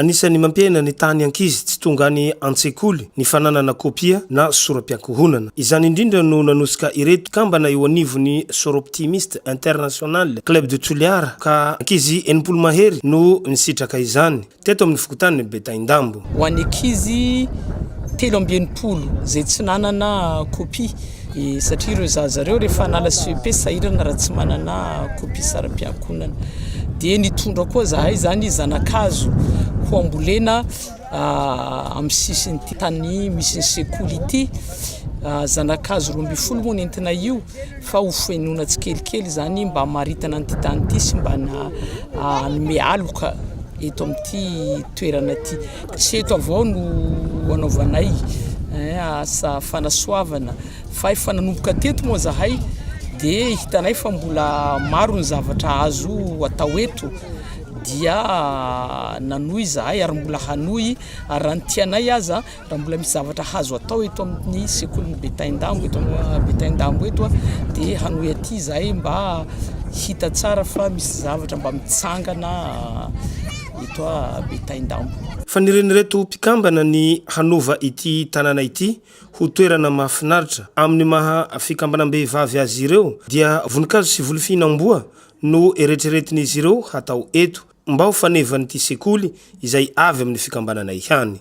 Anisan'ny mampiaina ny tahan'ny ankizy tsy tonga any an-tsekoly ny fananana kopia na sora-piankohonana. Izany indrindra no nanosika ireto kambana eo anivon'ny Soroptimist International Club de Toliara ka ankizy enimpolo mahery no nisitraka izany, teto amin'ny fokontany Betaindambo. Ho an'ny ankizy telo amby enimpolo izay tsy nanana kopia satria ireo zaza ireo rehefa hanala CEP sahirana raha tsy manana copie saram-piankonana dia nitondra koa zahay zany zanakazo ho ambolena ah, amin'ny sisin'ity tany misy ny sekoly ity ah, zanakazo roa ambin'ny folo moa nentina io fa ho fenoina tsikelikely izany mba maritana an'ity tany ity sy mba na ah, hanome aloka eto amin'ity toerana ity Tsy eto avao no anaovanay asa fanasoavana fa efa nanomboka teto moa zahay dia hitanay fa mbola maro ny zavatra azo atao eto dia nanohy zahay ary mbola hanohy ary raha ny tianay aza raha mbola misy zavatra hazo atao eto amin'ny sekolin'ny Betaindambo eto Betaindambo eto dia hanohy aty zahay mba hita tsara fa misy zavatra mba mitsangana eto Betaindambo. Fanirian'ireto mpikambana ny hanova ity tanàna ity ho toerana mahafinaritra. Amin'ny maha fikambanam-behivavy azy ireo dia voninkazo sy volofihinam-boa no eretreretin'izy ireo hatao eto mba ho fanevan'ity sekoly izay avy amin'ny fikambanana ihany.